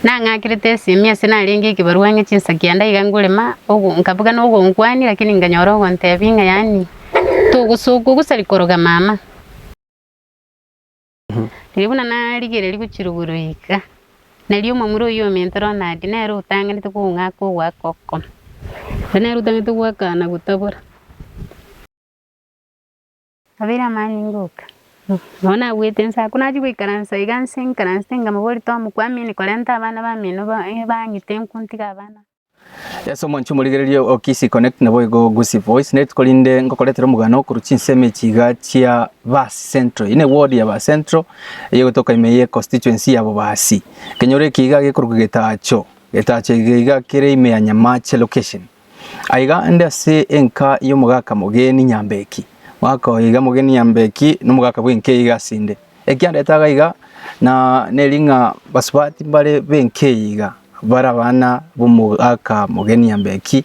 Nang'akerete esemi ase narenge ekebarua ng'e chinsa kianda iga ngorema ogo nkabuga nogonkwania lakini nkanyora ogontebia ng'a yaani togosokwa gosari koroga mama. Riria buna narigereria gochiruborwa iga, nari omomura oyio o mentoro nadi nere otanganete kong'aka ogoaka okokoma, ore nere otanganete goaka na gotabora. Abeire amani ngoka, nabo nabuete nse, ako nachia goikaransa iga nse nkaransete nkamoboria tomokwamini korenta abana bamino bang'ite nkontiga abana. Yeso omwanchwa omorigereria o KC Connect naboigo Gusii Voice nerituko rinde ngokoretera omogano korwa chinsemo echi iga chia Baasi Central. Eye ne ward ya Baasi Central eye egotoka ime ye constituency ya Bobaasi. Ekenyoro eke iga gekorokwa Getacho. Getacho ege iga kere ime ya Nyamache location. Aiga inde ase enka y'omogaka Mogeni Nyambeki. Mwaka oyo iga Mogeni Nyambeki nomogaka bw'enka eye iga asinde. Ekiagera etagaiga iga, na neri ng'a basubati mbare benki eye iga, bare abana b'omogaka mogeni Nyambeki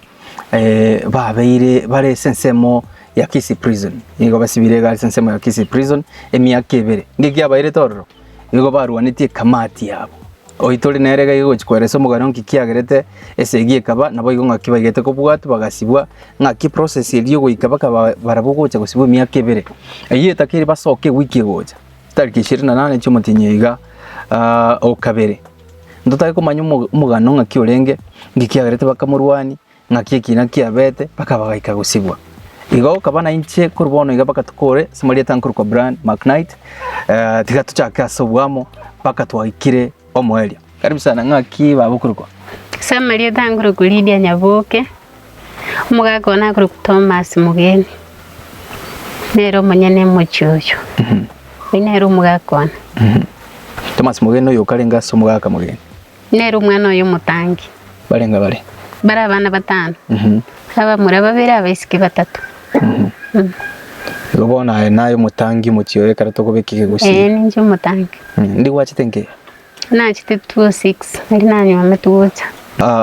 babeire bare ase ensemo ya Kisii Prison, nigo basibire iga ase ensemo ya Kisii Prison emiaka ebere. Ng'ekiabairete ororo, nigo barwanetie ekamati yabo. Oitori nere gaiga gochia kwera ase omogani onki kiagerete esegi ekaba, naboigo ng'aki baigete kobwatwa bagasibwa, ng'aki process eria ogoika bakaba barabwo gocha gosibwa emiaka ebere. Eyio etaka eria basoka ewiki egocha, tariki ishirini na nane chiomotienyi oiga o kabere. Ntotake komanya omogano ng'aki orenge, nki kiagerete bakamorwania, Naki ekiina kiabete, mpaka bagaika gosibwa. Igo okaba nainche korwa bono iga mpaka tokore ase amarieta nkorokwa Brian McKnight, eh, tiga tochake ase oboamo mpaka twaikire omoerio. Karibu sana, ng'aki baba okorokwa? Ase amarieta nkorokwa Lydia Nyaboke, omogaka one akorokwa Thomas Mugeni. Nere omonyene emochie oyo. Oyo nere omogaka one. Thomas Mugeni oyo okarenge ase omogaka Mugeni. Nere omwana oye omotangi. Barenge bare. Bare abana batano. Abamura babere, abaisiki batato. Igo bono aye naye omotangi omochie oye ekero tokobeka egegusi. Ee, ninche omotangi. Ndi gwachete nke? Nachete 206, ndi nanywa ame togocha.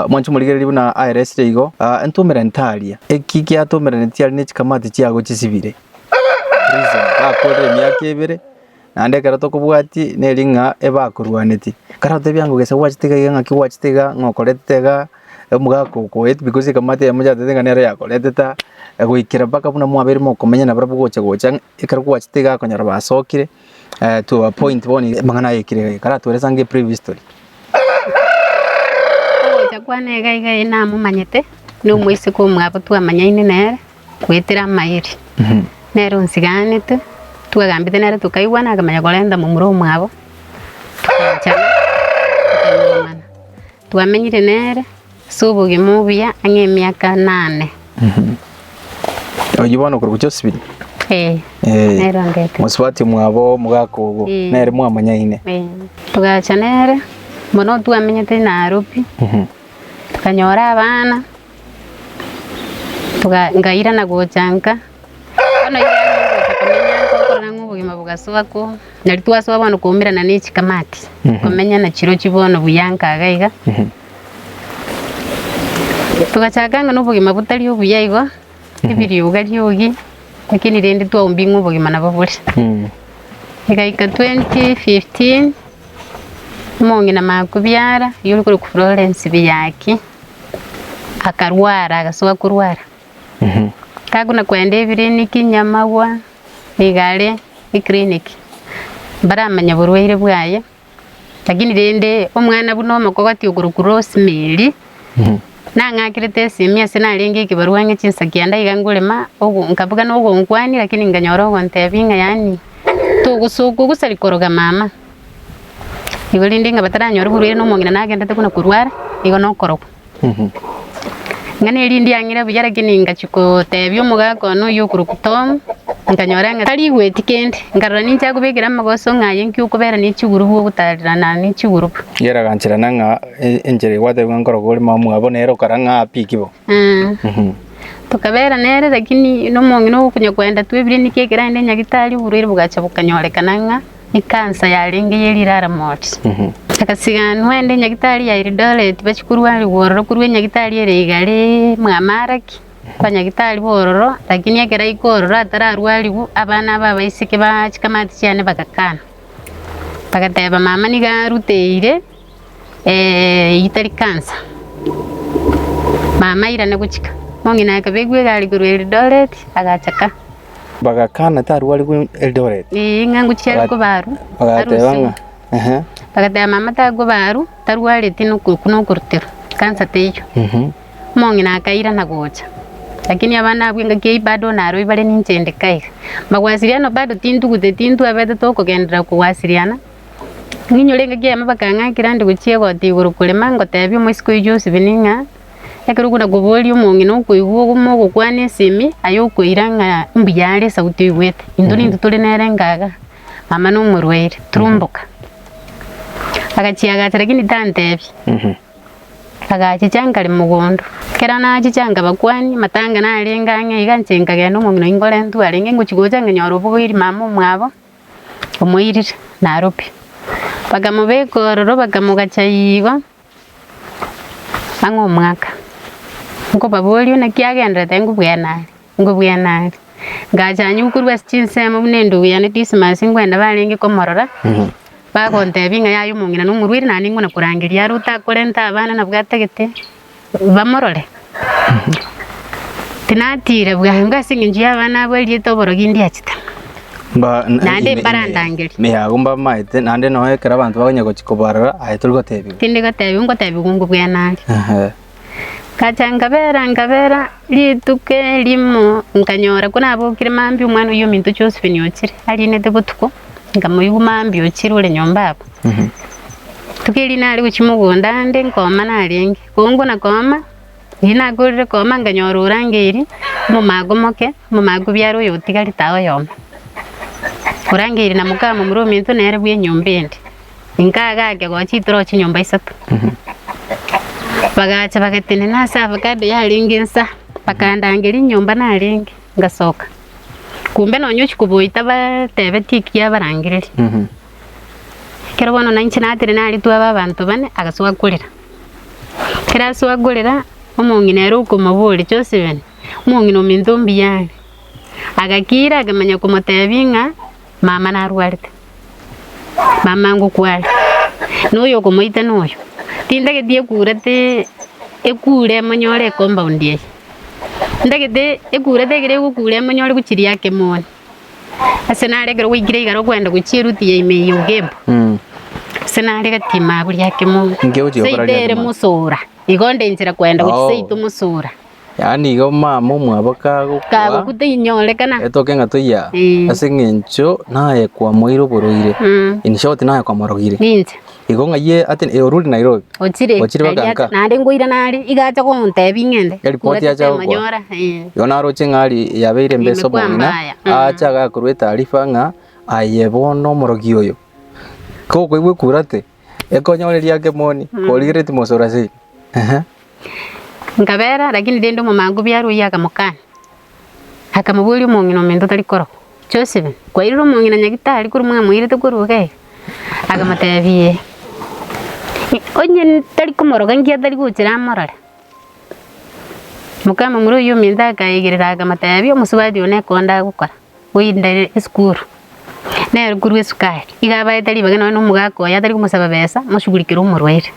Mwanche omorigereria buna aeresire igo, Entomera ntaaria. Eki giatomera netiaria ne chikamati chiago chisibire. Prison. Gakorire emiaka ebere. Naende ekero tokobwati neri ng'a ebakorwaneti, kare otebia ng'a gese gwachete iga iga ng'aki gwachete iga ng'a okoretete iga, omogaka okoet because egamato eye mochantete ng'a nere yakoreteta, goikera mpaka buna mwabeire mokomenya nabarabwo gocha gocha ng'a ekero gwachete iga akonyora basokire to a point bono iga amang'ana aye ekire iga iga kare atweresa ng'a ebrief history. Ogocha kwane iga iga eyi namomanyete, na omoiseke omwabo twamanyaine nere. goetera amayeri, nere onsigaanete, twagambete nere tokaigwana, akamanya korenta momura omwabo, togachana, tokairanomana. Twamenyire nere ase obogima obuya ang'e emiaka enane. Oyio bono okoroku Josephine? Ee, Eh, nere ondetete. mosubati omwabo omogaka ogo, Eh. nere mwamanyaine. Ee, togacha nere mono twamenyete Nairobi, Mhm. tokanyora abana, Toga- ngairana gocha nka, bono iga nigo ngocha komenya nka okorora ng'a obogima bogasoa ko, nari twasoa bono koumerana na echikamati, komenya na chirochi bono buya nka iga iga. Togachaka ng'a na obogima botari obuya igo, ebirioga riogi, lakini rende twaumbia ng'a obogima nabo bore. Egaika twenty fifteen, omong'ina makabiara, oyio ore korokwa Florence Biyaki. akarwara agasoka korwara takona kwenda ebiriniki nyamagwa niga are eclinic mbaramanya oborwaire bwaye lakini rende omwana buna omokogoti okorokwa Rosemary nang'akerete esimi ase narenge ekebarua ang'e chinsa kianda iga ngore ma ogo nkabuga nogonkwania lakini nkanyora ogontebia ng'a yaani togosoka ogosari koroga mama. Igo rende ng'a bataranyora oborwaire na omong'ina nagenderete buna korwara, igo na okorokwa. Ng'a na erinde ang'ire buya lakini ingachia kotebia omogaka one oyio okorokwa Tom, nkanyora ng'a tarigweti kende, nkarora ninche akobekera amagoso ng'a aye inki okobera ne chigurubu ogotarerana ne chigurubu. Yeragancherana ng'a e- enchera egwatebwa ng'a nkorokwa ore mama mwabo, nere okara ng'a happy ki bo. Eeh. Tokabera nere lakini na omong'ina okonya koenda twebirie niki ekeraende nyagitari oborwaire bogachia bokanyorekana ng'a Ekansa yarenge ye Liraramot egasiganwa ende Nyagitari ya Eldoret bachie korwanigwa ororo korwa enyagitari ere igare mwamaraki kwa nyagitari b'ororo lakini ekero aika ororo atararwarigwa abana aba abaiseke ba chikamati chiane bagakana bagateba mama niga aruteire. Riita rikansa, mama airane gochika, mong'ina akaba aigwe iga are korwa Eldoret, agacha ka. Bagakana tarwa are korwa Eldoret? Ee, ng'a ngochia are koba arwa. Bagateba ng'a, ehe. Bagateba mama tari koba arwa, tarwareti nokorutera, kansa teiyo. Mong'ina akairana gocha, lakini abana abwo engaki eyio bado naroi bare ninche inde kaiga. Mbagwasiriana bado tintugute, tintwabete tokogenderera kogwasiriana. Ninyore engaki yane bakang'akera nde gochia egoti igoro korema, ngoteebia omoiseke oyio Josibini ng'a, Ekero okona koboria omong'ina okoigwa ogoma ogokwana esemi, aye okoira ng'a mbuya are esauti oigwete. Intwe nintwe tore nere engaga, mama nomorwaire, turumboka. Agachia agacha lakini tanteebia. Agachicha nkare mogondo. Ekero nachicha nkabakwani, amatanga narenge ang'e iga inche nkagenda omong'ina oyi nkorentwe arenge, ngochi gocha ng'a nyore obogoiri mama omwabo. omoirire, naro pi. Bakamobeka ororo, bakamogacha igo ang'e omwaka, nkobaboria buna ki agenderete, ninko bwene are, ninko bwene are. Ngacha aye korwa ase chinsemo buna endugu yane Dismas, nkwenda barenge komorora, bagontebia ng'a yaye omong'ina nomorwaire, naende ninkonakorangeria are otakorenta abana nabwate gete. bamorore. Tinatiire bwango ase engencho y'abana abo erieta oborogi ndiachete, naende mbarandangerie. Me abwo mbamaete, naende noe ekero abanto bakonya gochia kobarora, aye tori gotebigwa. Tindi gotebigwa, ngotebigwa ngwo bwena aria. Ehe. Ngacha nkabera nkabera, rituko erimo nkanyora ko nabokire mambia omwana oyio ominto Josephine ochire, ariinete botuko. Nkamoigwa mambia ochire ore nyomba abwo. Rituko erio nare gochia mogondo ande nkooma narenge. Koongwa na kooma, riria nakorire kooma nkanyora orangeiri omomaaga omoke, omomaaga obiara oyo otigarie tao oyomo. Orangeiri na moka momura ominto nere bwa enyomba ende. Inka agake gochia itoroche nyomba isato. Bagacha bagatenena ase avocado yarenge nsa, bakandangeria enyomba narenge. ngasoka. Kumbe nonya ochi koboyia tabatebetie ekiya abarangereri. Ekero bono nainche natire naritwe abe abanto bane, agasoa korera. Ekero asoa korera, omong'ina ere okomoboria, Josephen, omong'ina ominto mbuya are. Agakira akamanya komotebia ng'a. Mama narwarete. Mama ngokwa are. Na oyo okomoita noyo. Tindageti ekurete ekure emonyore e compound eye. Ndagete ekurete ekero egokura emonyore gochiria ake moni. Ase nare ekero gwaikire igoro kwenda gochia eruti ya ime eye ogembe. Ase nare gati maburia ake moni. Inki ogochia gokora Seito riaria ere ime? mosura. Igo nde nchera kwenda gochia Oh. seito mosura. Yaani igo mama omwabo kagokwa, Kagokwa tinyorekana. etoke ng'a toiya Eh. ase eng'encho naye kwamoeire oborwaire, Mm. in short naye kwamorogire. Ninche. Igo ng'ayie ati "Eh, orure Nairobi. Ochire. Ochire Nari bakanka. acha- Naende ngoira nare. Iga acha gontebia ng'ende. Eripoti Ng'wete acha gokwa. temonyora. Eh. Igo naroche ng'ari yabeire mbesa Imekwa omong'ina, mbaya. Mm. acha agakorwa etaarifa ng'a aye bono omorogi oyo. Kokoigwa ekurate. ekonyoreria akemoni, origeretie mosura sei. Ehe. Nkabeera, lakini rende omomango biaro oyio akamokana, akamoboria omong'ina omento tari korokwa, Joseph, kwairire omong'ina nyagitari korwa mwamoirete korwa iga iga? Akamotebia, Ee. Onye ntari komoroka inki atari gochira amorore? Mokamomura oyio omento akaegerera, akamotebia, Omosubati one ekero ndagokora. Goyinda esukuru, nere korwa esukari, iga abaete ribage nonye na omogaka oye atari komosaba besa, moshugurikere omorwaire.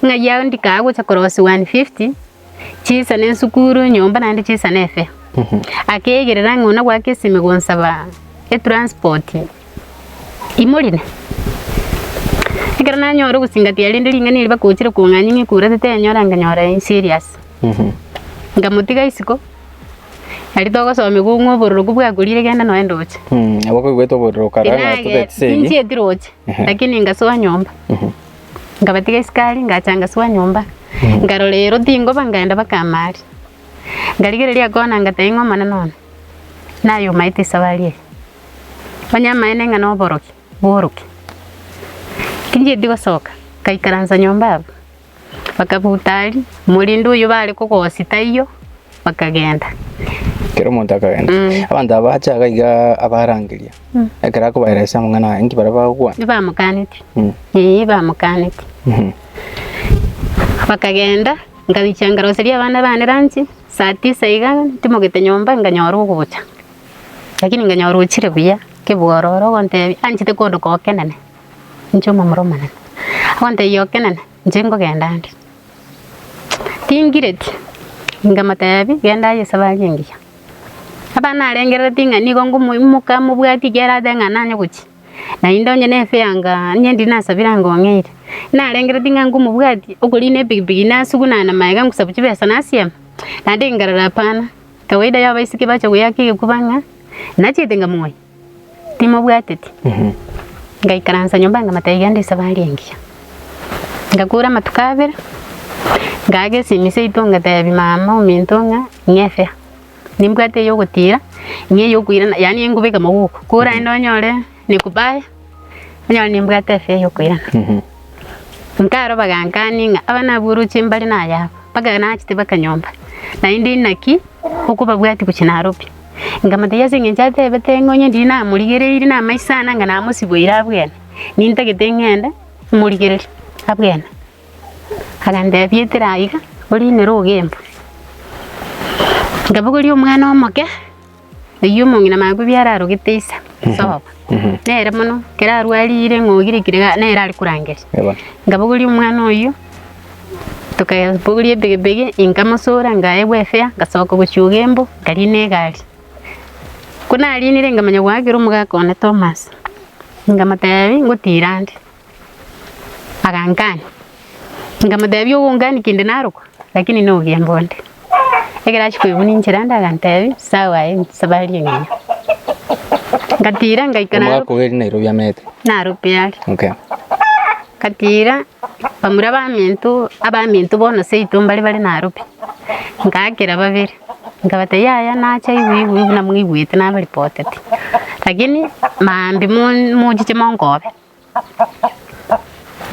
Ng'ai yago ndikaae gocha korosia one fifty, chiisa na esukuru, nyomba naende chiisa na efee. Akeigerera ng'a ona goaka esime gonsaba etransport, imorine. Ekero nanyora ogosingatia rende ring'ana erio bakochire kong'anyia ng'a ekura tete enyora, nkanyora e serious. Nkamotiga isiko. Nari togosomigwa ong'we obororoku bwakorire genda noe ndoche. Mm, nabo koigwete obororo okaraga ng'a Tinagete, totagete ase eyio. tinchieti roche, Ehe. lakini ngasoa nyomba. Nkabatiga esukari, ngacha ngasoa nyomba. Nkarora ero tingoba nkaenda mpaka amaari. Nkarigereria kona ngatebia ng'a omonene one, naye omaete esabari eye. Onye amaene ng'a noborokia, borokia. Tinchieti gosoka, nkaikaransa nyomba abwo. Bakabuta aria, omorende oyio baare kogosia taiyo, bakagenda. Kera omonto akagenda. Mm. Abanto aba ache iga iga abarangeria. Mm. Ekero akobaeresa amang'ana aya, inki bare bagokwana? Nibamokaneti. Mm. Ee, bamokaneti. Mhm. Bakagenda, nkabicha nkaroseria abana bane ranchi, saa tisa iga ntimogete nyomba nkanyora ogocha. Lakini nkanyora ochire buya, kebwororo ogontebia, anchete kondo kokenene. Inche omomura omonene. Agontebia Okenene, inche nkogenda ande. Tingireti. Nkamotebia, genda aye esabari engiya. Abana narengerereti ng'a nigo nkomoimoka mobwati eki arate ng'a nanye gochia. Naende onye ne fare anga onye ndiri nasabire anga ong'eire. Narengereti ng'a nkomobwati okorina epikipiki nasugunane magega ngosabu chibesa nasiame. Naende nkarora hapana. Kawaida ya abaisiki bache goyaka egekuba ng'a, nachiete nkamonya. Timobwateti? Ngaikaransa nyomba ngamata iga nde esabari engiya. Ngakora amatuko abere, ngaaka esimi seito ngatebi mama ominto ng'a ng'efea, nimbwate eye ogotira, ng'a eye okoirana, yaani ngobeka mogoka, kora aende onyore nekubaye, onyore nimbwate efea ya okoirana. Nkaro bagankani ng'a abana abwo oroche mbare nayabo, mpaka nachete mpaka nyomba, naende inaki okobabwati gochia narobi. Nkamotebia, Ase engencho atebete ng'a onye ndiri namorigereiri na amaiso ane anga namosiboire abwene, nintagete ng'ende imorigererie abwene. Agantebia, Itira aiga, orinere ogenva. Nkabogoria omwana omoke, oyio omong'ina mane kobua ararogete Isa, sobo, nere mono, ekero arwarire ng'a ogirekire iga nere are korangeria. Nkabogoria omwana oyio. Tokabogoria ebegibegi nkamosora nkaegwa efea ngasoka gochuga embo nkariina egari. Ko narinire nkamanya goakera omogaka one Thomas nkamotebia ngotira nde agankania nkamotebia ogonkania kende narokwa lakini no ogembe onde. Ekero achia koigwa ninchire ande agantebia sawa aye nsabari engima. Ngatira ngaika Omogaka obo ere Nairobi amete. Nairobi are. Okay. Ngatira. Bamura baminto abaminto bono seito mbare bare naro pi, ngakera babere nkabata yaya nacha igwe igwe buna mwaigwete nabaripotete, lakini maambia mochiche monkobe,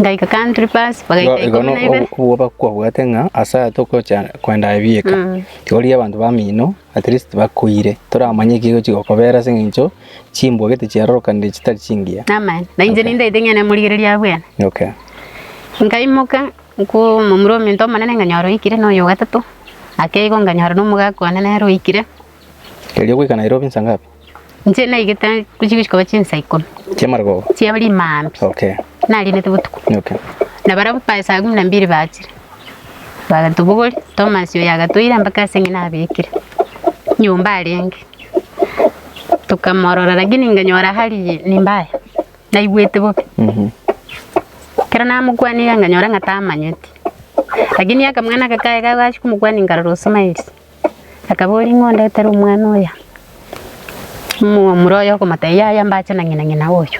ngaika country pass bagaika Igo ikomo igo na ibere. nobwoba kwabwate ng'a ase aya togocha kwenda ebieka, tiga oria abanto bamino. At least bakoire. Toramanye eki egochi gokobera ase engencho chimbwa gete chiarorokanire chitari chingiya. Namanya. Na inche Okay. nindaete ng'a nemorigereria abwene. Okay. Nkaimoka nkomomura ominto omonene nkanyora oikire na oyo gatato. Ake igo nkanyora nomogaka one nere oikire. Erio goika Nairobi nsa ngapi? Inche naigete chigochia koba chinsa ikomi chia rimambi nariinete botuko na barabwo by saa kumi na mbili bachire bagatobogori Thomas oyo agatoira mpaka ase eng'ina abekire nyomba arenge tokamorora lakini nkanyora hali ni mbaya naigwete bobe ekero namokwania iga nkanyora ng'a tamanyeti lakini akamwana aka kaye kagachia komokwania nkarora o smiles. Akaboria, Ing'o ondetere omwana oyo? Omomura oye okomotebia, Yaya, mbache na ng'ina ng'ina oyo.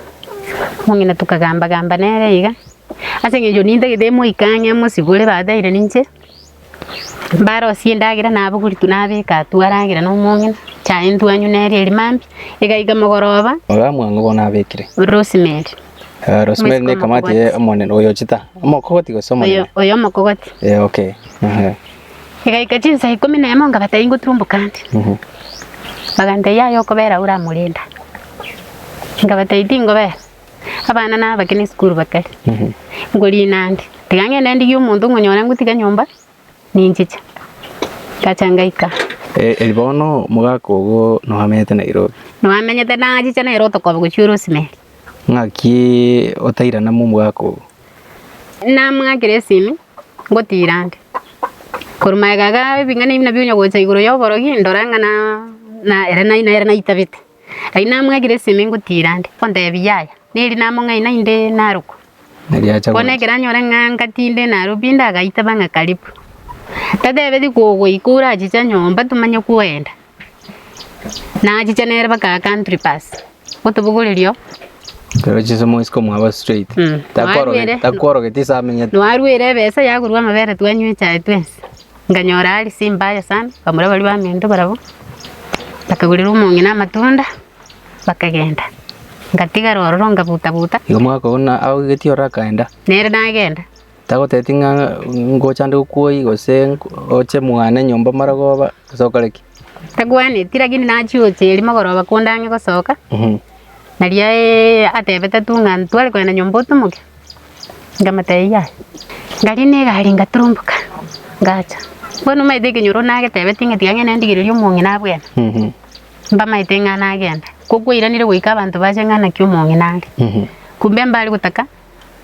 Omong'ina tokagamba-gamba nere iga, ase eng'encho nintagete emoike ang'e emosibore bateire ninche, mbarosie endagera nabogorigwe nabeka atwo aragere na omong'ina, chaye ntwanywe nere eria mambia. Egaika mogoroba. Ororo mwango bono abekire. Rosemary. Eh, Rosemary Omosike nekamati omokogoti. eh, omonene oyochete, omokogoti gose Oyo, omonene? oyo omokogoti. Eh, okay, ehe. Egaika chinsa ikomi na emo ngabata ingo turumbukante. Bagantebia yaya okobera aye oramorenda. Ngabatebia tingobera. Abana nabake ne esukuru bakare. Ngorina ande. Tiga ngende ndigie omonto ngonyora ngotiga nyomba ninchiche. Ngacha ngaika. Eh, eri bono mogaka ogo no amenyete Nairobi. No amenyete nachiche nere otokobe gochia orosimeri. Ng'aki otairana mo omogaka ogo? Namang'ana Geresimi, ngotiira nde. Korwa magega iga ebing'ana ebi nabio onya gocha igoro ya oborogi, ndora ng'a na na ere naye nere naitabete. Erio namang'ana Geresimi ngotiira nde, nkontebi yaya, neri namo ng'ai naende narokwa. Erio acha Bono gocha. ekero anyore ng'a ngatinde narwo pi ndagaitaba ng'a karibu. Tatebeti kogoika orachicha nyomba tomanye kwenda. Nachiche nere baka country pass gotobogorerio. Nachiche mo isiko mwaba straight. Mm. Takworoge- Takworogetie ase amenyete. Nwarwire ebesa yagurwa amabere twanywa echae twensi. Nkanyora hali si mbaya sana, nkamura baria baminto barabwo, bakagurera omong'ina amatunda, bakagenda. Nkatigara ororo nkabuta buta. Igo mwakogana agoigetie ororo akaenda. Nere nagenda. Tagotebeti ng'a ngocha ande gokwoyia gose oche mwane nyomba marogoba gose okore ki. Tagwenereti lakini nachia gocha erio mogoroba konde ang'e gosoka, nario atebete tu ng'a ntware kogenda nyomba otumoke, nkamotebia yaya. Nkarenta egari ngaturumboka ngacha. Bono omanyete ekenyoro nagetebeti ng'a tiga ng'ende ndigererie omong'ina abwene, mbamaete ng'a nagenda. Ko kwairanire goika abanto bache ng'a naki omong'ina are. Kumbe mbare gotaka.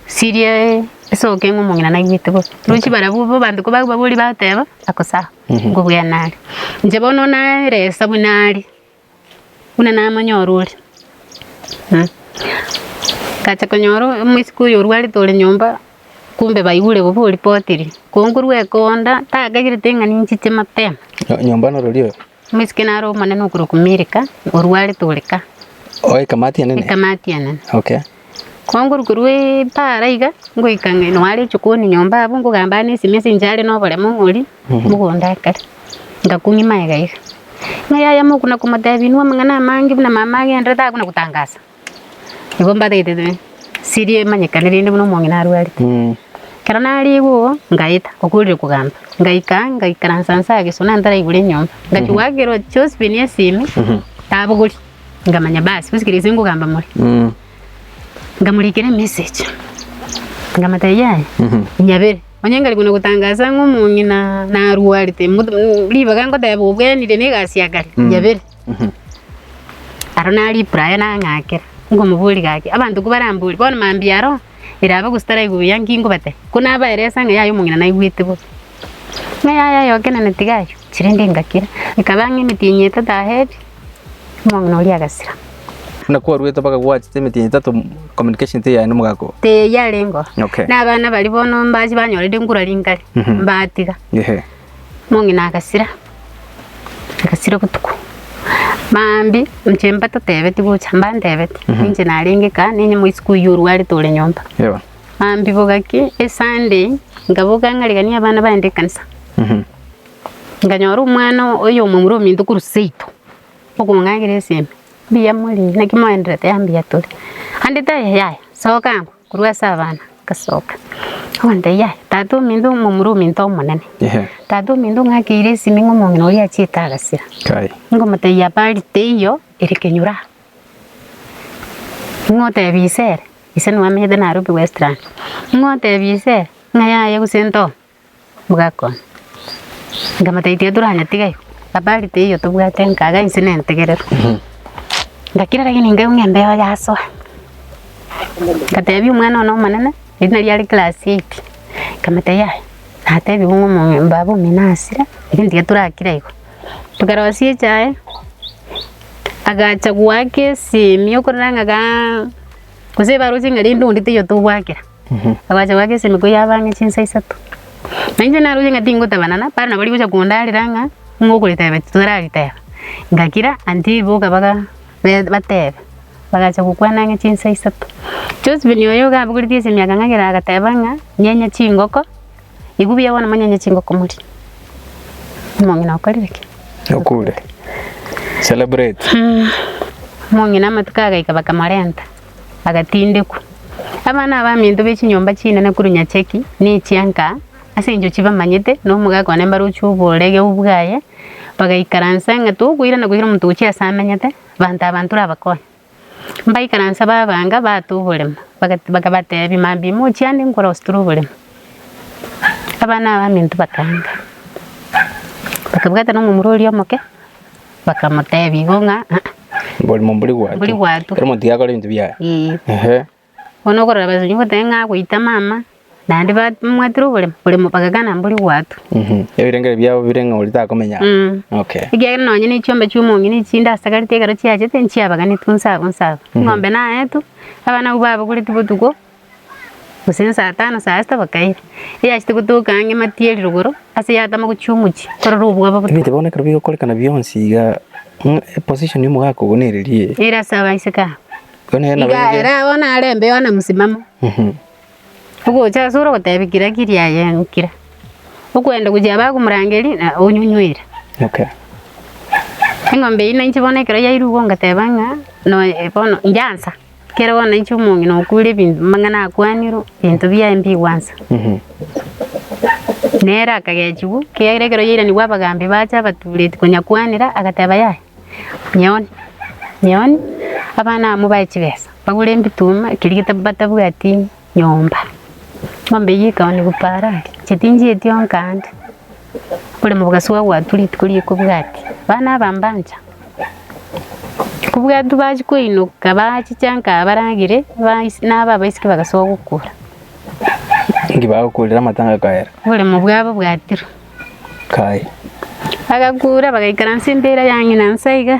Siriae esoke ng'a omong'ina naigwete bobe. Rochi barabwo bo abanto ko bababoria bateba, akosaha, nkobua nare. Inche bono naeresa buna are, buna namanya orore. Ngacha konyora omosike oyo orwarete ore nyomba, kumbe baigure bobe oripotiri. Ko nkorwa ekonda, takagerete ng'a ninchiche mapema. Nyomba norori oyo? Omoiseke naro omonene okorokwa Milka, orwarete ore ka. O ekamati enene. Ekamati enene. Okay. Kwangorwa korwa epaara iga, ngoika ng'a eno are inche kooni nyomba abwo, nkogamba aa nesimi ase inche are noboremo ng'ori, mogondo akare. Ngakung'ima iga iga. Ng'a yaya mokuna komotebia inwe amang'ana amange buna mama agenderete agakuna gotangasa. Nigo mbateete siri emanyekane rende buna omong'ina arwarete. Ekero nariigwa oo, ngaeta okorire kogamba, ngaika ang'e ngaikaransa nse aa gesuna ntaraigure enyomba. Ngachia goakerwa Josephine esimi, tabogori, nkamanya basi bosi kera gese nkogamba more. Nkamorikera emessage, nkamotebia yaya, nyabere. Onye nkarigwe na gotangasa ng'a omong'ina narwarete, mot- ribaga nkoteba obwenire na egasi ya kare, nyabere. Aro naro ripura aye nang'akera, nkomoboria gaki, abanto ko baramborie, bono mambia aro erabe gose taraigwe buya, nki nkobatebia? Ko nabaeresa ng'a yaya omong'ina naigwete bo, ng'a yaya aye okenene tiga aywo, chire nde ngakira. Ekaba ng'a emetienyi etato ahebi, omong'ina oria agasira. Buna kwarwete mpaka gwachete emetienyi etato communication teyari na omogaka oo. Teyarengeo. Okay. Na abana baria bono mbache banyora rinde nkura rinkari, mbatiga. Ehe. Omong'ina agasira, agasira obotuko, mambia inche mbatotebeti gocha, mbantebeti ninche narenge kaa, ninye moisiko oyio orwarete ore nyomba. Yebo. Mambia bogaki Esunday, nkaboka ng'a rigia nie abana baende ekanisa, nkanyora omwana oyo omomura ominto korwa seito, okong'akera esime, mbuya morii, naki moenderete? Mbuya tore. Ande taiyo, yaya, soka angoo. Korwa ase abana ngasoka, ngotebia, Yaya, tata ominto omomura ominto omonene, tata ominto ng'akeire esimi ng'a omong'ina oria achiete agasira. Ngomotebia, Bali teiyo ere kenyoro aa. Ng'otebia ise ere, ise nigo amenyete Nairobi Westlands, ng'otebia ise ere, ng'a yaya gose ntoo. Bwakon. Nkamotebia tiga toranyetiga igo, abari teiyo tobwate nkaga inse ne entegerero. Ngakira rege ninkaigwa ng'a embeo yasoa, ngatebia omwana one omonene erinde erio are class eight, nkamotebia yaya natebigwe ng'a omo baba omino asire, lakini tiga torakira igo. Tokarosia echae, agacha goaka esemi okorora ng'a ga gose ebarosie ng'a rende onde teiyo tobwakera. Agachaka goaka esenduku yaabo ang'e chinsa isato. Na inche naroche ng'a tingotabanana, baria nabo rigocha kondarera ng'a ng'okoriteba titorariteba. Ngakira auntie boka baga be- batebe, bagacha gokwana ang'e chinsa isato. Josephine oyo iga abogoreti ase emiaka ng'agera agateba ng'a nyenye chingoko, igo buya bono monyenye chingoko morie. Omong'ina okorire ki? Okure. Celebrate. Omong'ina amatuko agaika bakamorenta. agatindekwa. Abana abaminto be chinyomba chinene korwa nyacheki na echianka, ase engencho chibamanyete, na omogaka one mbaroche oborege obo bwaye, bagaikaransa ng'a tokoirana goira omonto gochia aase amenyete, banta abanto rabakonye. Mbaikaransa babaanga, baata oboremo, baga- bakabateebia, Mambia imochie ande nkorostere oboremo. Abana abaminto bakaanga, bakabwatana omomura oria omoke. Bakamoteebia igo ng'a, Mbori mombori gwato. Mombori gwato. Kero omonto tiga akore ebinto biaye. Ee. Ehe. Bono okorora abasunyi goteba ng'a agoita mama, naende ba- mwatire oboremo, oboremo bagakana mbori gwato. Mhm. Ebirengeri biabo bire ng'a oria takomenya. Mm. Okay. Ekiagera nonye nechiombe chiomong'ina echi chinde asagarete ekero chiachete nchiabaganetwe nse abwo nse abwo. Eng'ombe naetwe, abana abwo babagoretie botuko, Gose ne saa tano saa sita bakaira. Eyachete gotoka ang'e mati eri rogoro, ase yatama gochia omochie, korora obwabo botari. Ebinto bono ekero bigokorekana bionsi iga, ng'a eposition ya omogaka ogo nere riia eye. Ere ase abaiseke aba. Igo nere nabo Iga ere. ere agwo narembe Yohana mosimamo, ogocha asore ogoteba kira kiri aye nkira. Okwenda gochia bakomorangeria na onyunywire. Okay. Eng'ombe eyio nainche bono ekero yairwe igo ngateba ng'a, noe bono inyansa. Ekero bono nainche omong'ina okwire ebinto amang'ana akwanirwe, ebinto biaye mbigwansa. Nere akagechigwa, ekiagera ekero yairanigwe abagambi bacha abatureti konya kwanera, agateba yaya, nyeoni, nyeoni, abana abamo bae chibesa, bagure ebituma, ekeri gete batabwati. nyomba. Ng'ombe eyio ekaonigwa parari, chitinji etio nkaanda, ore mobogasu agwatwa rituko ria ekobwati, abana aba mbancha kobwatwa bachia koinoka bachicha nkabaragere, bais- nabo abaisiki bagasoa gokura. Inki bagokurire amatanga akaera? Oboremo bwabo bwatirwa. Kaye. Bagakura bagaikaransa embera ya ng'ina nse iga.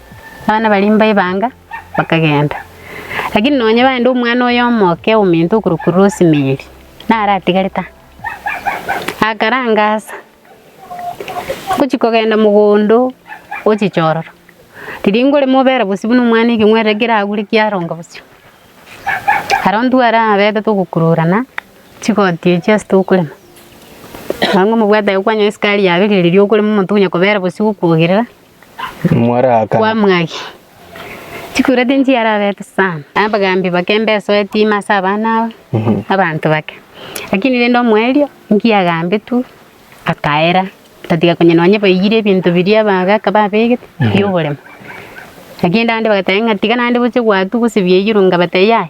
Abana baria mbaibanga bakagenda, lakini nonye baende omwana oye omoke ominto okorokwa Rosemary nare atigarete aa. Akarangasa ngochia kogenda mogondo o chichororo, riria nkore mobera bosio buna omwana ekeng'werere ekero agure kiaronga bosio, aro intwe are abebe togokururana chigoti echi ase tokorema, nabo omobwate aye kwanyora esukari yaberire riria okorema omonto onya kobera bosio gokwogerera. Mwaraakana. Kwamwagi. Chikureti nchiarabete sana. Abagambi bake mbesoa etima ase abana abo, abanto bake. Lakini rende omoerio nkiagambetwe, akaera, tatiga konya nonye baiyire ebinto biria bagaka babegete bioboremo. Lakini rende bagateba ng'a tiga naende goche gwatua gose biaiyirwe, ngabatebia yaya.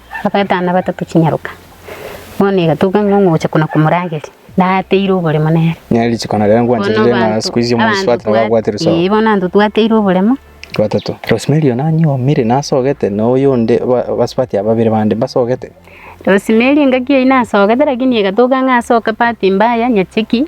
Bagatana na batato chinyaroka, bono egatoka ng'a ong'ocha kona komorageria, nateire oboremo nere. Nere rituko nareo Bono nkwancherire ng'a abanto siku ici omonto abanto sibwate nabo abwate twa- risogo. eh, bono abanto twateire oboremo. Batato. Rosemary oyo nanyuomire nasogete na oyonde ba- basubati aba babere bande mbasogete. Rosemary engaki eyio nasogete rakini egatoka ng'a ase okabati mbaya nyacheki.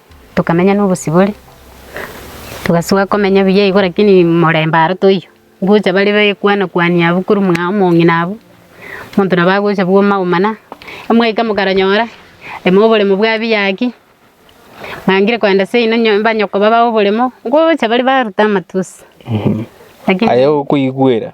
Tokamenya nobosibore, togasoa komenya buya igo lakini morembe aro toiyo. Ngocha bare baekwana kwania abwo korwa mwa omong'ina abwo, monto nabo agocha bwa omaomana, omwaika mokaranyora, ime oboremo bwa biya ki, mwangire kogenda seino nyo mbanyoko babae oboremo, ngocha bare baruta amatusi, lakini. Aye okoigwera.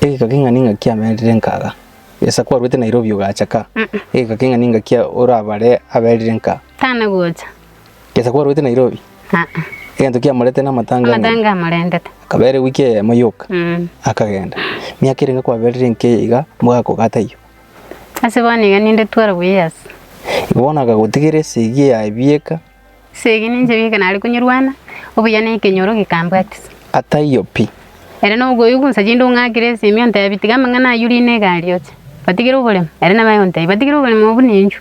Egeka keng'ani ngaki amerire nkaga. Gesa kwaruete Nairobi ogacha ka. Egeka keng'ani ngaki orabare aberire nka. Tana gocha. Gesa kwaruete Nairobi. Aa. Egento kiamorete na amatanga. Amatanga amorentete. Akabere wiki eyemo yoka. Mm. Akagenda. Miaka ere nga kwaberire nka eye iga mogakogata taiyo. Ase bono iga ninde twelve years. Igo bono akagotigera esegi ya ebieka. Esegi ninche gete nare konyerwana, obuya na ekenyoro gekambwatisa. Ataiyo pi. Ere nobogoyio gonsa chinde ong'akere ase ime ontebi, Tiga amang'ana ayio rie ne egari oche. Batigere oboremo. Ere nabae ontebi, Batigere oboremo obo buna enchwe.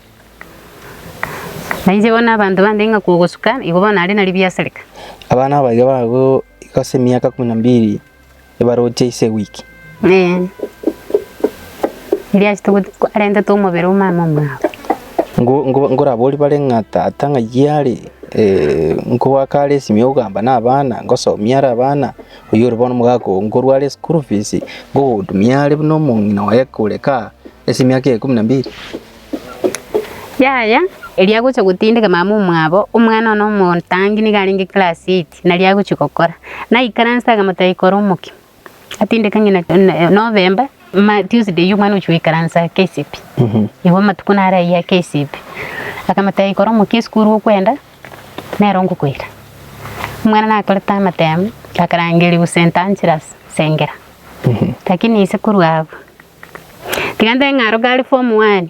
Na inche bono abanto bande ng'akwa ogosuka, igo bono nare na ribiasareka. Abana abaige bago igo ase emiaka ikomi na mbiri. ebaroche ise wiki. Ee, erio achete goti- ko- arentete omobere o mama omwabo. Ngo- ngo- ngoraborie bare ng'a tata ng'ayio are eh, nkogoaka are esimi yokogamba na abana ngosomia are abana oyio ore bono omogaka oo nkorwa are school fees ngogotumia are buna omong'ina oye kore kaa ase emiaka eye ikomi na mbiri Yaya, erio agocha gotindeka mama omwabo, omwana one omotangi nigo arenge class eight. Nari agochia gokora, naikaranse agamotebia, Ikora omoke, atindeka ng'ina Novemba, Tuesday eye omwana ogochia goikaransa KCPE. Igo amatuko naro ayio ya KCPE. Akamotebia, Ikora omoke esukuru okwenda, nero ngokoira. Omwana nakorete amatemo, akarangerigwa St. Angelas, Sengera. Lakini ise korwa abwo, tiga ntebe ng'a aro gare form one.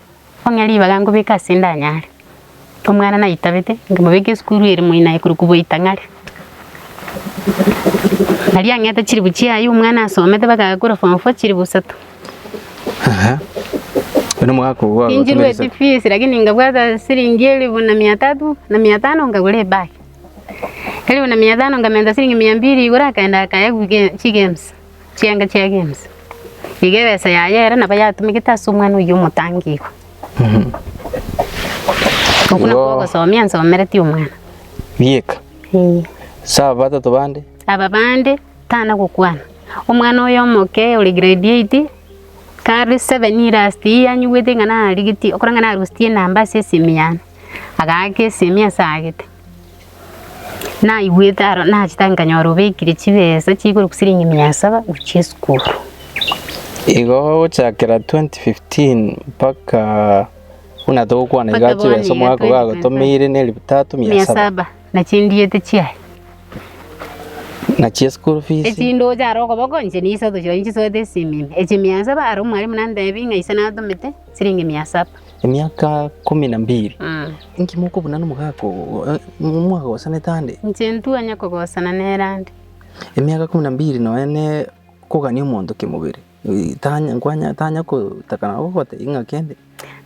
Onye ribaga nkobeka ase ndanyare, omwana naitabete nkemobeka esukuru ere moino aye korokwa Bwaitang'are. Aria ang'ete chilifu chiaye omwana asomete mpaka agakora form four chilifu isato. Aha. Buna omogaka ogo Ninchirwe agotemeresa. efees lakini nkabwata silingi elifu na mia tatu na mia tano nkagora ebag. Elifu na mia tano nkamenta silingi mia mbili igoro akaenda akaya goika chigames. Chianga chia games. Iga ebesa yaye ere nabo yatumegete ase omwana oyio omotangi igo. Okwo nakwo Igo. ogosomia nsomereti omwana. Bieka. Eeh. Sa batato bande. Aba bande tana gokwana. Omwana oyo omoke ore grade eight, kare seven ii last ii anyigwete ng'a narigetie, okora ng'a narositie enamba ase esimi yane, agaaka esimi ase agete. Naigwete aro nachete agwo nkanyora obekire chibesa chikorokwa siringi mia saba gochia esukuru. Igo gochakera 2015 mpaka buna togokwana iga Mpaka bono chibesa iga omogaka 2025. ogagotomeire na elifu tatu mia Mia saba saba na chindiete chiaye. na chia school fees Echindoche aro okoboko inche nisato chiaye nchisoete esimi ime. Echi mia saba aro omwalimu nantebia ng'a ise natomete Siringi mia saba. Emiaka komi na mbiri. Inki mokobuna nomogaka oo mwagosanete ande? Inche ntwanya kogosana nere ande. Emiaka komi na mbiri nonya ne kogania omonto kemobere. Tanya nkwanya tanya kotaka na gogotebia ng'a kende.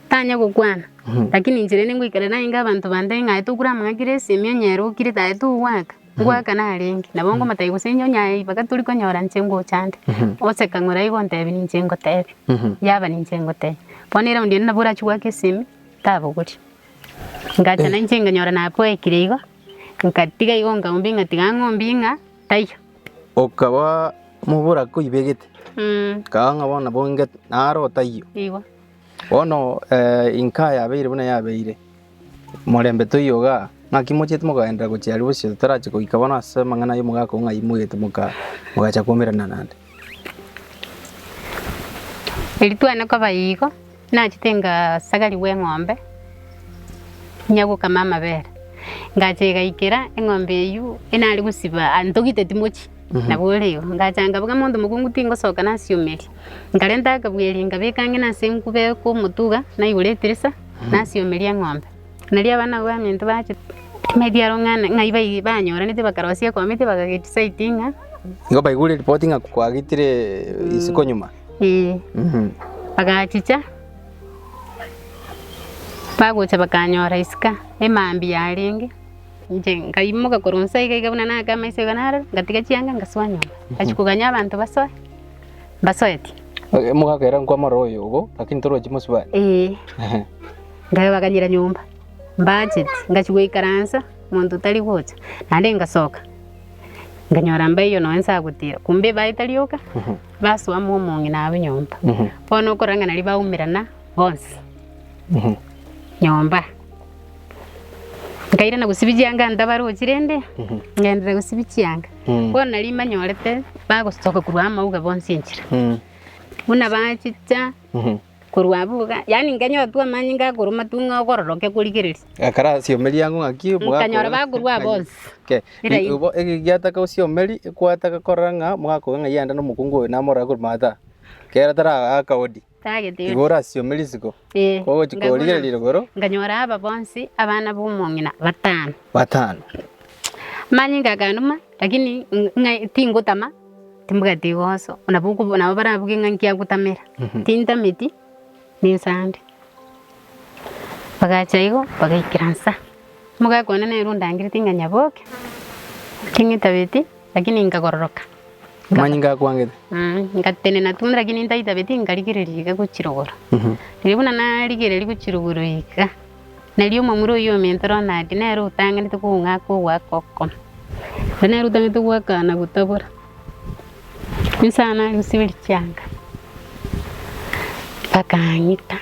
Tanya gokwana. Lakini inche rende ngoikare naye ng'a abanto bande ng'aye tokure amang'aki resi, emionyero okire taye togwaka. Ngoaka narenge, nabo ngomotebi gose inche onye aye ibaga tori konyora inche ngocha ande, ose kang'ora igo ontebi ninche ngotebi, yaba ninche ngotebi. Bono eraundi ende nabo orachie goaka esimi, tabogori. Ngacha na inche nkanyora nakoekire igo, nkatiga igo nkagumbia ng'a tiga ng'ombie ng'a taiyo. Okaba mobura koibegete, Mh, kaga ng'a bono nabo nge naro taiyo. igo. Bono inka yabeire buna yabeire, morembe toiyoga, ng'aki mochiete mogaenderera gochia aria bosio totarachie goika bono ase amang'ana y'omogaka oo ng'ai moigete mogachia kwomerana nande? Erio twane koba igo, nachete ngasagarigwa eng'ombe inya gokama amabere, ngacha igaikera eng'ombe eywo enare gosiba, ntogite timochi nabo ore igo, ngacha nkabogia monto mokungu tingosoka nasiomeri. Nkarenta akabweeri, nkabeka ang'ene ase enkuba ekomotuga, naigora etirisa, nasieomeria eng'ombe. Nario abana b'abaminto bachire ng'a ebiaro ng'ane ng'ai bai- banyoranete bakarosia ekomiti bakagedecide ng'a Nigo baigure report ng'a kwagitire isiko nyuma. ee. Mhm. Bagachicha, bagocha bakanyora isiko emambia yarenge, inche nkaimoka korwa inse iga iga buna nakaama iso iga narore, ngatiga chianga ngasoa nyomba. Nachia koganya abanto basoe. mbasoeti. Eh, Mogakera nkwamora oyo obo, lakini torochi mosibare. Ee, Ehe. ngabaganyera nyomba mbacheti ngachi goikaransa monto tari gocha naende ngasoka nganyora mbaiyo nonye nsagotira kumbe ebae tarioka Mhm. basoa mo omong'ina abu nyomba Mhm. bono okorang'ana riria baumerana bonsi Mhm. nyomba nkairana gosibia chianga ntabarochi rende Mhm. ngenderera gosibia chianga Bono riria mbanyorete bagosoka korwa amauga bonsi enchera, buna bachicha korwa abwo iga, yaani nkanyotwa amanyinga akorwa amatung'a akororokia korigereria. Ekero asiomerie ang'o ng'aki obwako. Nkanyora bakorwa aa bonsi. Okay. Era ime. Igo ege giataka osiomerie, kwataka korora ng'a mwaka oyo ng'a yaenda na omokungu oyo namorore korwa maata. Kera tara aa akaodi. Tagete Igo yona. orasiome risigo, Ee, kogochi ngaguna. korigereria igoro, Nganyora aba bonsi abana b'omong'ina batano. batano. Manyinga akanuma, lakini ng- ng'a- tingotama, timbwati igoso. Nabo okobu- nabo barabuge ng'a nkiagotamera. Tintameti, ninsande. Bagacha igo, bagaikera inse. Omogaka one nere ondangereti ng'a nyaboke, naki ng'itabeti, lakini nkakororoka. Amanyinga akwangete. Aye, ngatenena tu lakini ntaitabeti nkarigereria iga gochirogora. Riria buna narigereria gochirogora iga, nari omomura oyio omentoro o Nadi nere otang'anete kong'aka ogoaka okokoma. Ere nere otang'anete goaka na gotabora. Inse aa nari gosiberia chianga, bakang'ita.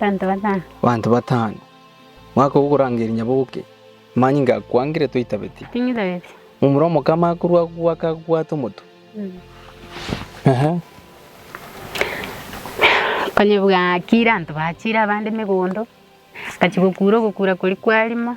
Banto batano. Banto batano. Mwaka ogo okorangeria nyaboke, manye ngakwangire toitabeti. Tinyitabeti. Momura omokama akorwa agwo akagwata omotwe. Ehe. Konyebwa akire anto bachire abande megondo, gachia gokura ogokura kori kwarimo,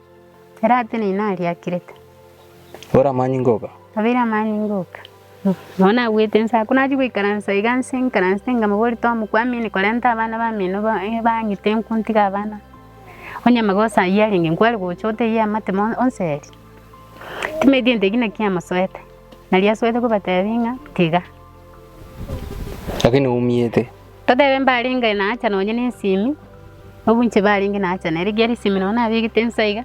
Erate nina aria akirete. Ore amani ngoka. Abere amani ngoka. Nao nabwete ense aa. Konachia goikaransa iga nse nkaranse nkamobori tomokwamini korenta abana bamino bang'ite enku ntige abana. Onye amagoso ayio arenge nkware gocha otebie amate mono onseri. Timediente ekio nakio amosoete. Nario asoete kobatebia ng'a tiga. Lakini oumiete. Totebe mbarenge na hacha nonye nesimi, obunche barenge na hacha na rigiya risimi nonya nabegete insa iga,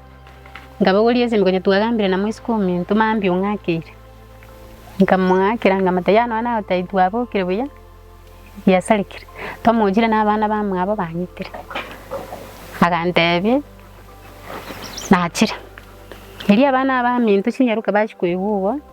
nkabogoria esimi konya twagambire na moisiko ominto mambia ong'akeire. Nkamong'akera nkamotebia yaya nonya nagotai twabokire buya, yasarekire, twamochire na abana bamwabo bang'itire. Agantebia nachire. Erio abana abanto chinyaroka bachia koigwa igo.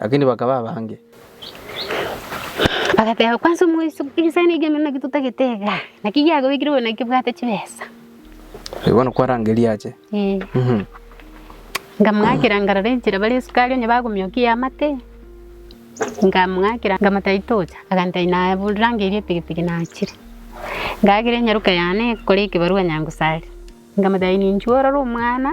Lakini bakaba abange. Bagateba, Kwansa omoiso, egesani eke emeremo naki totagete iga, naki giakobekire oyo naki obwate chibesa? Eh, bono kwarangeria ache. Eh. Mhm. Nkamng'akera nkarora enchera bare esukari onye bagomiokia ey'amate, nkamng'akera nkamotebia tocha, agantebia inaya bu- rangeria epikipiki nachire. Ng'akera enyaroka yane ekore ekebarua Nyangusari, nkamotebia ninchuo orore omwana.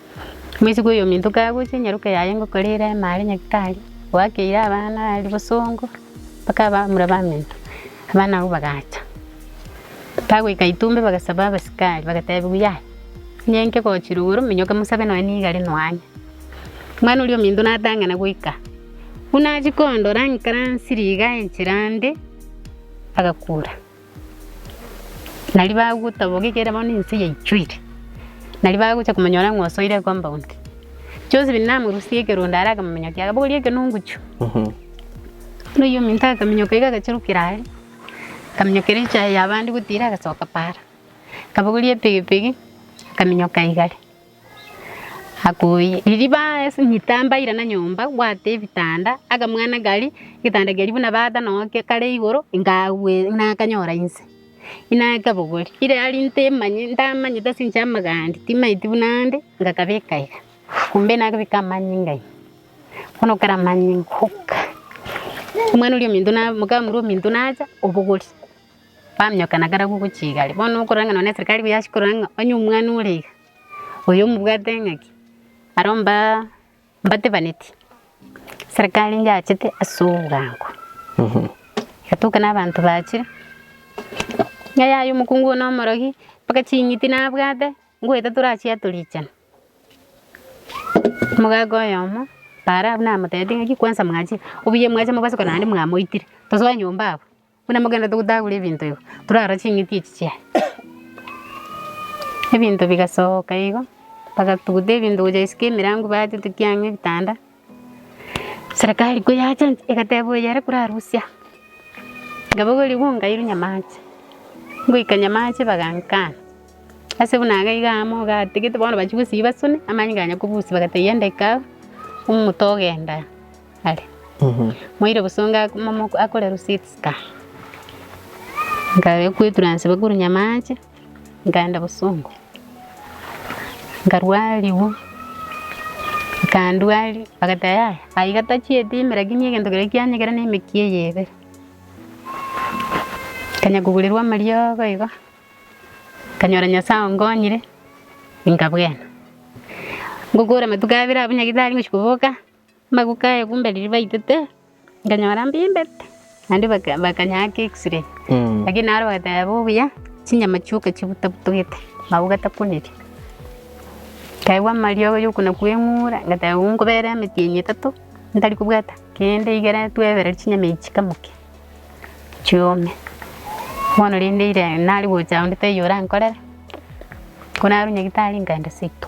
Boisigwe oyominto kagochia, nyaroka yaye ngokorera ime are nyagitari, oakeire abana are bosongo, mpaka abamura baminto, abana abwo bagacha. Bagoika itumbe bagasaba abasikari, bagatebiwa yaya, onye inke gochire igoro, minyoke mosabe nonya nigo are noanye. Omwana oria ominto natang'ana goika, buna achia kondora, ng'ikaransire igaa enchera ande, agakura. Nario bagotaboka ekiagera bono ense yaichwire. Nario bagocha komonyora ng'a osoire ecompund. Josephine namorusia ekerondo are akamominyokia, akabogoria ekenunguchu. Buna oyio ominto akaminyoka iga agachirukera are, akaminyokera echaye ya abande gotira agasoka para. Akabogoria epigipigi, akaminyoka igare. Akoi, ririba ase nyita mbaira na nyomba bwate ebitanda, akamwana kari, egetanda keria buna bata noo kare igoro, nkagwe nakanyora inse, inakabogori. Ire ari nte manye ntamanyete ase eng'encho y'amagaani timanyeti buna ande, ngakabeka iga. Kombe nakabeka amanyinga ime, bono kare amanyinga oka. Omwana oria ominto na mokamura ominto nacha, obogori, bamenyokana kare agogochia igare. Bono okorora ng'a nonye na eserikari yachia korora ng'a onye omwana ore iga. Oyo omobwate engaki aro mba mbatebaneti serikali yachete ase obogago. Egatuka na abanto bache ng'a yaya omokungu one omorogi mpaka ching'iti nabwate ngoeta torachiato richani. Omogaga oyomo para abwo namotebeti ng'aki kwanza mwachire obuya mwachire mobasuka naende mwamoitire tosoe nyomba abwo. Buna mogenderete gotagora ebinto igo, torara ching'iti echi chia ebinto bigasoka igo, bagatuguta ebinto gocha isiko emerango batetetia ang'e ebitanda, serikali ko yachancha egateba oyo ere korarusia, nkabogorigwa ng'a nkairwa nyamache, ngoika nyamache bagankana, ase buna iga iga amo gatigete bono bachia gosiba soni, amanyinga ganya kobusia bagatebia yende ika omoto ogenda. are. Moire bosongo ak- momo akore receipts ska. Nkabe kwetura nse bakuru nyamache, nkaenda bosongo. Nkarwariwu, nkandwari, bagate yaya, aiga tachieti ime lakini egento keria kianyegera ne emeki eye ebere. Kanya kogurirwa amariogo igo, kanyora Nyasaye ongonyire, inkabwena. Ngokora amatuko abere abwo nyagitari ngochi koboka. Amagoko aye kumbe riria baitete nkanyora mbimbete, naende baka bakanyaaka x-ray, lakini naro bagateba obuya chinyama chioka chibutabutogete nabo gatakoneria. Nkaigwa amariogo yokona kweng'ura ngateba rora nkobera emetienyi etato ntari kobwata kende igere twebereri chinyama echi chikamoke chiome. Bono rende ira nari gocha onde taiyo orankorere, ko narwoo nyagetari nkaenda seito.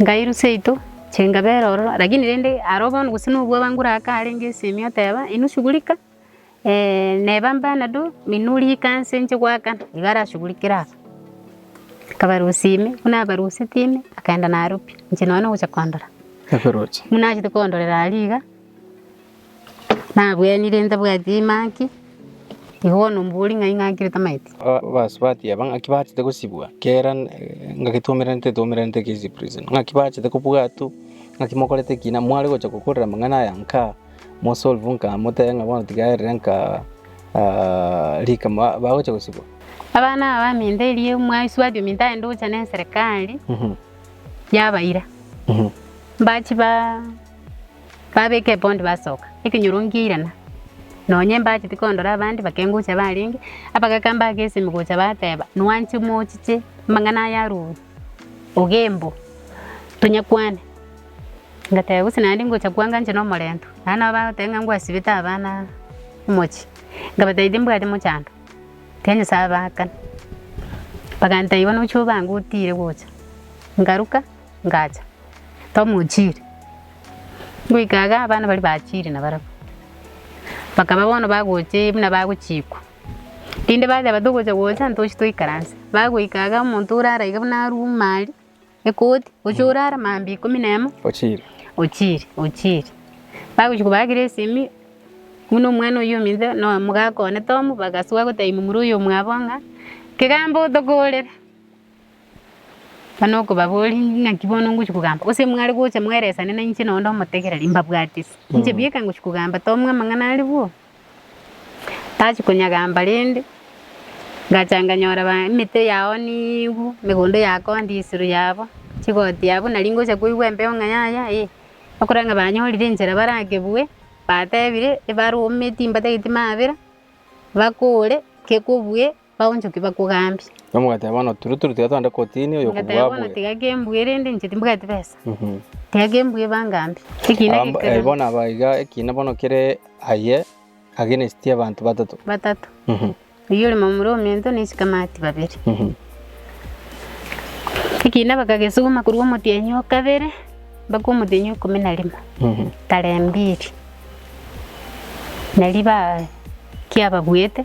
Ngai rusia yaito, chenga bera ororo. Lakini rende aro bono gose nobua bangure aka arenge esemi oteba, inwe shughulika neba mpanado inwe rika nse inche goakana. Nigo arashughurikere aba. Akabarusia ime, buna abaruseti ime, akaenda naaro pi. Inche nonya nogocha kondora. Buna achete kondorera aria iga. Nabwenire ntabwati engaki, igo bono mbori ng'ai ngaki ere tamaeti? Abasubati aba ng'aki bachete gosibwa kera ngagetwomeranete etwomeranete case prison ng'aki bachete kobwatu ng'aki mokorete ki na mware gocha gokorera amang'ana aya nka mo solve nka motebe ng'a bono tiga erere nka rikama bagocha gosibwa. Abana aba baminto erio mwaisubati ominto aende gocha ne eserekari yabaira mbachi ba. Babeka epondi basoka, ekenyoro ngiairana, nonya embacheti kondora abande bakengocha barenge, abagaka mbake esemi gocha bateba, nwanche mochiche amang'ana aya arure, ogembo, tonyakwane. Ngateba gose naende ngocha kwanga inche na omorento, naende nabo bagoteba ng'a ngwasibete abana omochie, nkabatebia timbwati mochando, ekiagera Nyasaye abaakana, bagantebia bono ochia obange otire gocha, nkaruka. ngacha tomochiire. Ngoika iga abana baria bachiire na barabwo, bakaba bono bagochii buna bagochikwa. Rinde bateba buna togocha gocha ntochie toikaranse, bagoika iga omonto orara iga buna aruume aria ekoti, ochia orara mambia ikomi na emo, Ochiire. ochiire ochiire. Bagochia kobaakera esimi, buna omwana oyio ominto na omogaka one Tom, bagasoa gotebia momura oyo omwabo ng'a, Kegambaa otokorere. Buna okobaboria, Naki bono ngochia kogamba? Gose mware gocha mweresane na inche nonde omotegereri, mbabwate ase inche bieka ngochia kogamba, tomwa amang'ana arigwo. Tachia konyagamba rende, ngacha nganyora ba- emete yao niigwe, emegondo yakoonde isiro yabo, chigoti yabo, nari ngocha koigwa embeo ng'a yaya eh, bakorora ng'a banyorire enchera barakebue, batebire, ebarome timbataeti mabera, bakore, kekobue. Bagonchokia bakogambie. Nomogateba bono turu turu tiga togende kotini oyo Ngateba okobua bono abue. tiga kembue rende inche timbugati besa. Mhm. Tiga kembue bangambie. Ekina Aba- eh, gekero. bono aba iga ekina bono kere aye against abanto batato. Batato. Mhm. Oyio ore momura omento na esikamati babere. Mhm. Ekina bakagesuguma korwa omotienyi o kabere mpaka omotienyi o ikomi na rimo. Mhm. Tarehe mbili. Nari ba kiababuete.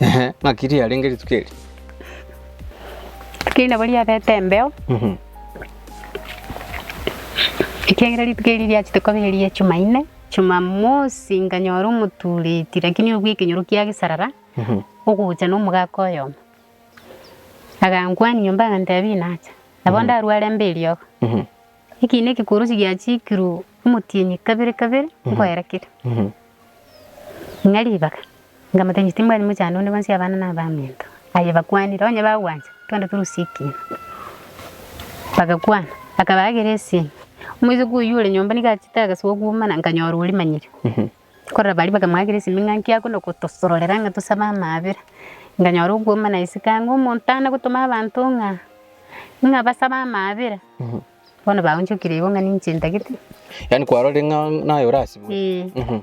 Ehe, ng'aki riarenge rituko eri? Rituko eri nabo riabete embeo, Mhm. ekiagera rituko eri riachete koba eri ya Jumaine. Jumamosi nkanyora omotureti lakini oria bwa ekenyoro kia gesarara, Mhm. ogocha na omogaka oyomo. Agankwania nyomba agantebia inacha. Nabo ndarware mbe eriogo. Mhm. Ekiina ekekworosia giachikirwe omotienyi kabere kabere nkoera keria. Ng'a ribaga, nkamoteebia timbwati mochando onde bwensi abana na abaminto. Aye bakwanire, onye bagwancha, twende torusie ekiina. Bagakwana, akabaakera esiimi. Omoiseke oyio ore nyomba nigo achete agasogwa omana, nkanyora orimanyire. Korora baria bakamwakera esimi ng'a nki akona gotosororera ng'a tosabe amaabera. Nkanyora okwoma na isiko ang'e omonto aane gotoma abanto ng'a ng'a basabe amaabera. Bono baonchokire igo ng'a ninche ntagete. Yaani kwarorire ng'a naye orasibwe? Ee.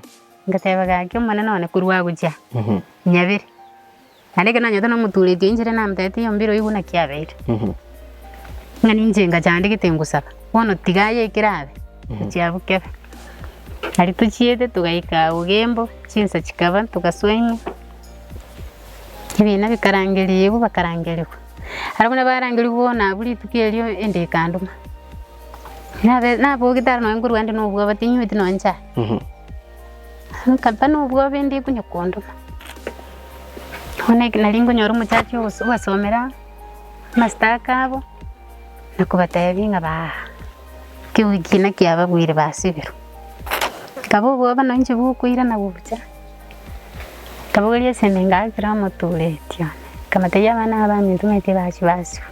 Ngateba gaki Omonene one korwa agochia, nyabere. Naende ekero nanyete nomoturetie inchera namtetie iyo mbiro igwe naki abeire. Ng'a ninche ngacha ande gete ngosaba, bono tiga aye ekero abe, gochia abwo kebe. Aria tochiete togaika agwo Gembo, chinsa chikaba togasoa ime, ebina bikarangeria igwe bakarangerigwa. Aro buna barangerigwe bono abwo rituko erio ende ekandoma. Nabe nabogete aro nonye nkorwa ande nobwabate inyweti nonye chai. Nkaba nobwoba ende ekonya kondoma. Bono ekero nari nkonyora omochache ogasomera amastaka abo, nakobatebia ng'a baa kewiki ena kiababuire basiberwa. Nkaba obwoba na inche bokoirana gocha, nkabogoria esende ngakire omoturetio, nkabatebia abana aba abanyetumeti bachia basiba.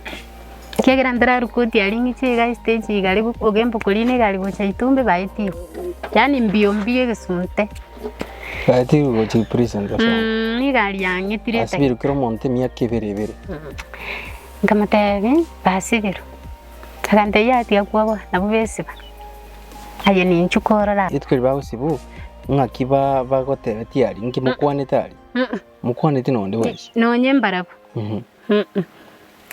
Ekiagera mbero Rukoti aria ing'iti iga estage iga aria Ogembo korina iga aria gocha Itumbi baetie yaani mbio mbio egesunte. Baetie gocha prison gose ang'e. Mmm nigo aria ang'etire Ase esegi. birukire omonto emiaka ebere ebere. Nkamotebia basibirwe. Akantebia yaya tiga kwabua nabwo besiba. Aye ninchwe korora. Rituko riria bagosibwa ng'aki bagotebetie aria inki mokwanete aria? Mokwaneti nonde bwensi? Nonye mbarabwo.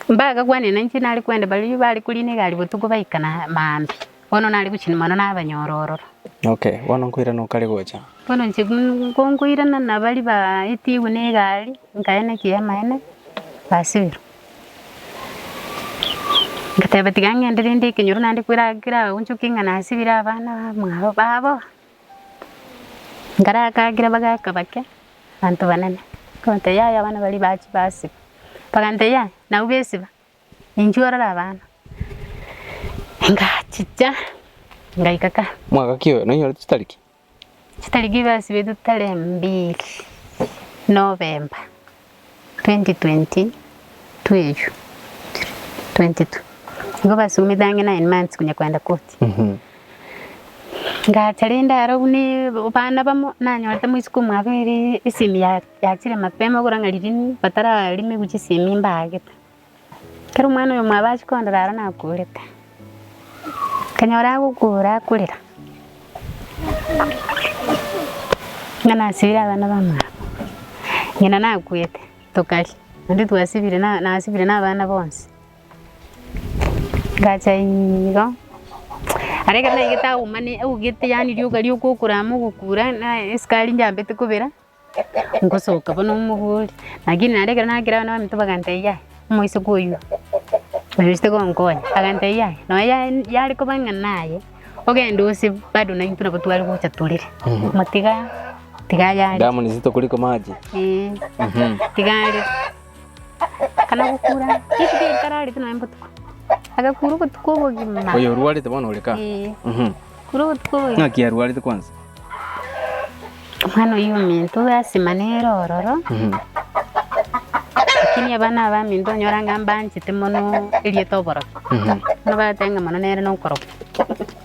Mbagakwanire nainche nare kwende baria bare koriina egari botuko baikana maambia, bono nare gochia mono nabanyora ororo. Okay, bono nkoirana okare gocha. Bono inche nkonkoirana na baria baetigwe na egari, nkaena ekiama ene, basibirwa. Ngateba tiga ngende rende ekenyoro naende kera keraonchoke ng'a nasibire abana bamwabo babo. Ekero agakira bagaka bake, abanto banene, akabatebia, Yaya abana baria bachia basiba. Bakamotebia, Yaya, nabu besiba? Ninchuo orore abana. Ngachicha ngaika ka. Mwaka ki oyo? Nonyorete chitariki? Chitariki basibetwe tare mbili Novemba. 2022 nigo basumete ang'e nine months konya kogenda koti. Ngacha rende aro buna abana bamo nanyorete mwisuka omwabo ere esemi yachire mapema okora ng'a ririni batararime gochia esemi mbagete. Ekero omwana oyomwabo achia kondora aro nakuurete, akanyora agokuura akurera, ng'a nasibire abana bamwabo, ng'ina nakuete tokaria, naende twasibire na nasibire na abana bonsi. Ngacha iigo, aria ekero naigete auma ne augete yaani rioka rioka okorama ogokuura naye esukari njambete kobera. Ngosoka bono omogori, lakini naende ekero nagera abana baminto bagantebia yaya, omoiseke oyio narusetie gonkonya, agantebia yaya, nonya ya- yare koba ng'a naye, ogenda ose bado naintwe nabo tware gocha torere, motiga tiga yare. Damu ni nzito kuliko maji. Eeh, tiga are. Kana gokura rituko eri kararete nonya botuko, agakura obotuko obogima. Oyo orwarete bono ore ka? Ee, Mhm. kura obotuko obogima. Ng'aki arwarete kwansa? Omwana oyio ominto gasima nere ororo, Mhm. lakini abana abaminto onyora ng'a mbanchete mono erieta oborokia. Mhm. Bono batenga mono nere nokorokia.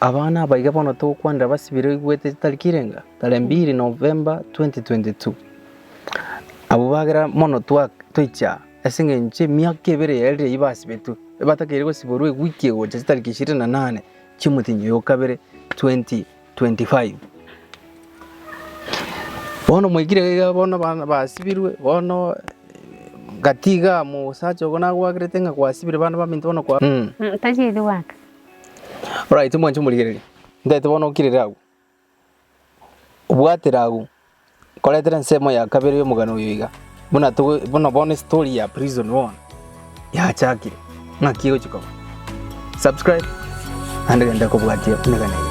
Aba nabaige bono togokwanera basibire oigwete etariki irenga tare mbiri November 2022. Abwo bagera mono toiche aa ase engencho emiaka ebere eye riria basibetwe ebatakeire gosiborwa ewiki egocha chitariki ishirini na nane chiomotenyi oyo okabere 2025. Bono mwaikire iga bono abana basibirwe bono gati igaa mosacha ogo nagoagerete ng'a kwasibire bana baminto bono kwa. Tacheti goaka. Oraite mwanche omorigereria, ntaete bono okirire agwo, obwatire agwo, nkoretere ensemo ya kabere ya omogano oyo iga, buna togo buna bono estory ya prison bono yachakire, ng'aki egochi korwa. Subscribe naende genda kobwatia emegena eye.